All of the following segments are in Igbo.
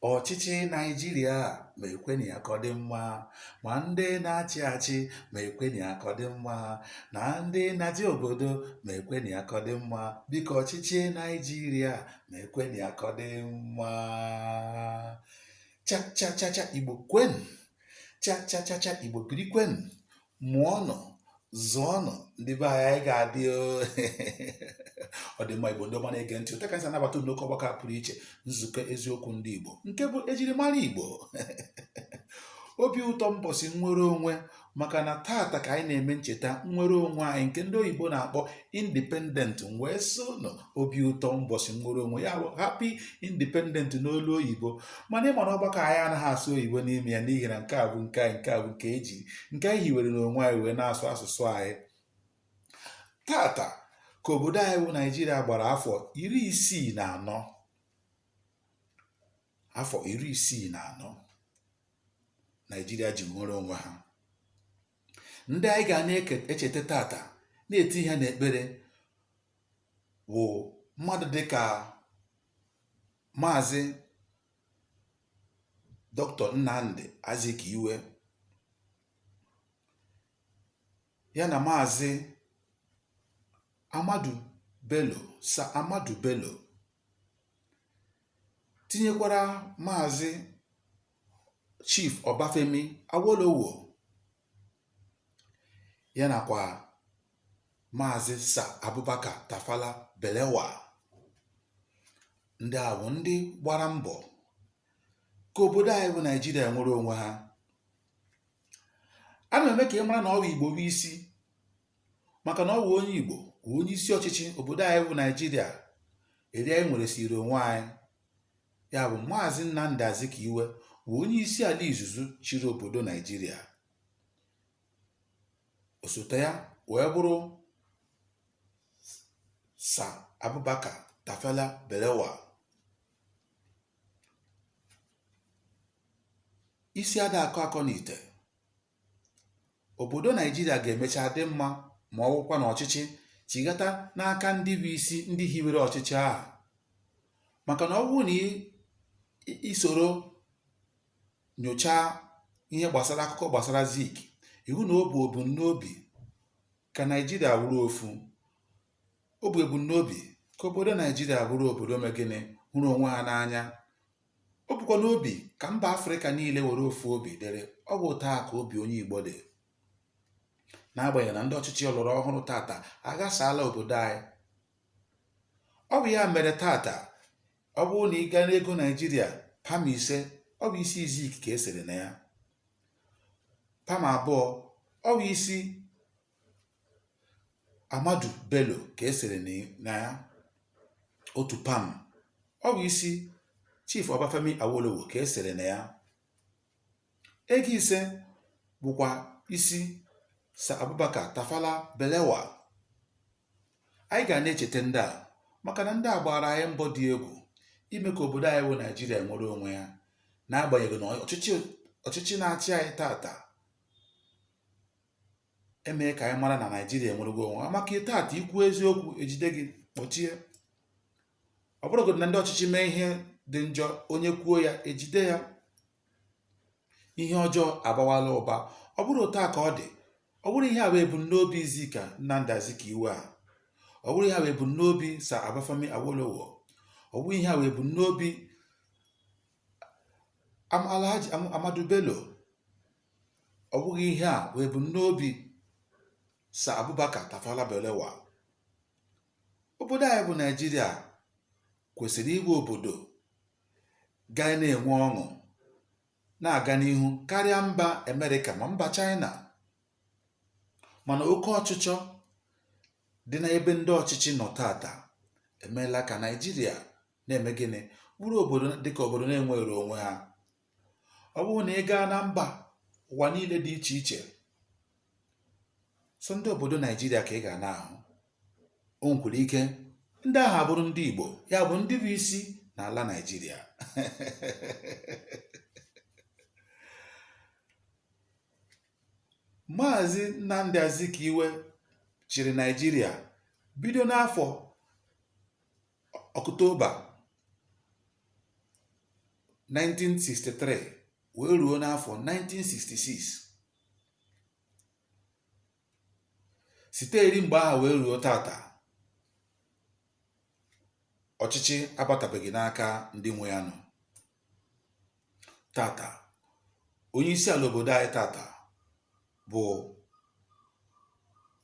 Ọchịchị Naịjirịa mekwenụ ya ka ọ dị mma, ma ndị na-achị achị mekwenụ ya ka ọ dị mma, na ndị na-achị obodo mekwenụ ya ka ọ dị mma. Biko ọchịchị Naịjirịa mekwenụ ya ka ọ dị mma. Cha cha cha cha Igbo kwenụ. Cha cha cha cha Igbo birikwenụ. mụọnụ zụọnụ ndị be anyị anyị ga-adị o. ọ dị mma igbo ndị ọma na-ege ntị otu a ka anyị si anabata unu n'oke ọgbakọ a pụrụ iche nzukọ eziokwu ndị igbo nke bụ ejirimara igbo obi ụtọ mbọsị nnwere onwe maka na tata ka anyị na-eme ncheta nnwere onwe anyị nke ndị oyibo na-akpọ independent m wee sị ụnụ obi ụtọ mbọsị nnwere onwe ya bụ happy independent n'olu oyibo mana ị ma na ọgbakọ anyị anaghị asụ oyibo n'ime ya n'ihi na nke a bụ nke anyị nke a bụ nke e ji nke anyị hiwere n'onwe anyị wee na-asụ asụsụ anyị tata ka obodo anyị bụ naijiria gbara afọ iri isii na anọ afọ iri isii na anọ naijiria ji nwere onwe ha ndị anyị ga na-echeta tata na-etinye n'ekpere wụ mmadụ dịka maazị doctor Nnamdi Azikiwe ya na maazị Ahmadu Bello sa Ahmadu Bello tinyekwara maazị Chief Ọbafemi Awolowo ya nakwa Maazị Sa Abubakar Tafawa Balewa ndị a bụ ndị gbara mbọ ka obodo anyị bụ Naijiria nwere onwe ha a na-eme ka ị mara na ọ bụ Igbo bụ isi maka na ọ bụ onye Igbo bụ onye isi ọchịchị obodo anyị bụ Naijiria eri anyị nweresịrị onwe anyị ya bụ Maazị Nnamdi Azikiwe bụ onye isi ala izizi chịrị obodo Naijiria osote ya wee bụrụ Sa Abubakar Tafawa Balewa isi ada akọ akọ n'ite obodo naijiria ga-emecha dị mma ma ọ wụkwa na ọchịchị chighata n'aka ndị bụ isi ndị hiwere ọchịchị ahụ maka na ọ bụrụ na i soro nyochaa ihe gbasara akụkọ gbasara zik ị hụ na o bu ebu n'obi ka naijiria wụrụ ofu o bu ebu n'obi ka obodo naijiria wụrụ obodo me gịnị hụrụ onwe ha n'anya O bukwa n'obi ka mba Afrịka niile were ofu obi dịrị, ọ bụ otu a ka obi onye Igbo dị. N'agbanyeghị na ndị ọchịchị ọlọrọ ọhụrụ tata aghasaala obodo anyị, ọ bụ ya mere tata ọ bụrụ na ị gaa n'ego Naijiria pam ise ọ bụ isi Izik ka e sere na ya, pam abụọ ọ bụ isi Amadu Bello ka e sere na ya otu pam ọ bụ isi Chief Obafemi Awolowo ka e sere na ya ego ise bụkwa isi Sir Abubakar Tafawa Balewa anyị ga na-echeta ndị a maka na ndị a gbara anyị mbọ dị egwu ime ka obodo anyị bụ Naijiria nwere onwe ya n'agbanyeghị na ndị ọchịchị na-achị anyị tata emee ka anyị mara na naijiria enwereghị onwe ya maka taata i kwuo eziokwu e jide gị kpọchie ọ bụrụgodị na ndị ọchịchị mee ihe dị njọ onye kwuo ya e jide ya ihe ọjọọ abawala ụba ọ bụrọ otu a ka ọ dị ọ bụrọ ihe a bụ ebumnobi Izik a Nnamdi Azikiwe a ọ bụrọ ihe a bụ ebumnobi Sir Obafemi Awolowo ọ bụrọ ihe a bụ ebumnobi Am- Alhaji Am- Amadu Bello Ọ bụghị ihe a bụ ebumnobi Sir Abubakar Tafawa Balewa. Obodo anyị bụ Naijiria kwesịrị ịbụ obodo ga na-enwe ọṅụ na-aga n'ihu karịa mba Amerịka ma mba Chaịna. Mana oke ọchịchọ dị n'ebe ndị ọchịchị nọ tata emeela ka Naịjirịa na-eme gịnị? Bụrụ obodo dịka obodo na-enweghịrị onwe ha. ọ bụrụ na ị gaa na mbà ụ̀wà niilė dị ichè ichè sọ ndị òbòdo Naịjirịa kà ị gà na-àhụ o nwèkwara ike ndị ahụ̀ àbụrụ ndị Ìgbò ya bụ̀ ndị bụ isi nà àla Naịjirịa Maazị Nnamdi Azikiwe chịrị Naịjirịa bido n'afọ Ọktoba 1963 wee ruo n'afọ 1966 site eri mgbe ahụ wee ruo tata ọchịchị abatabeghị n'aka ndị nwe ya nọ tata onye isi ala obodo anyị tata bụ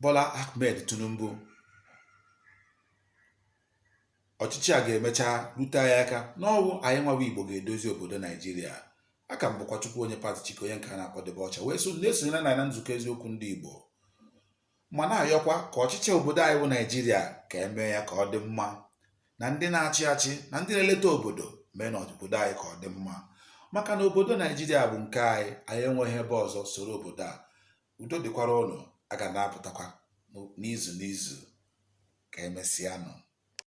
Bola Ahmed Tinubu ọchịchị a ga-emecha rute anyị aka n'ọ wụ anyị nwa wụ Igbo ga-edozi obodo Naijiria aha m bụkwa Chukwuonye Pat Chike onye nke a na-akpọ Dibịa Ọcha wee so na-esonyere na na nzukọ eziokwu ndị Igbo ma na-ayọkwa ka ọchịchị obodo anyị bụ naịjirịa ka e mee ya ka ọ dị mma na ndị na-achị achị na ndị na-eleta obodo meenụ obodo anyị ka ọ dị mma maka na obodo naịjirịa bụ nke anyị anyị enweghị ebe ọzọ soro obodo a udo dịkwara ụnụ a ga na-apụtakwa n'izu n'izu ka emesịanụ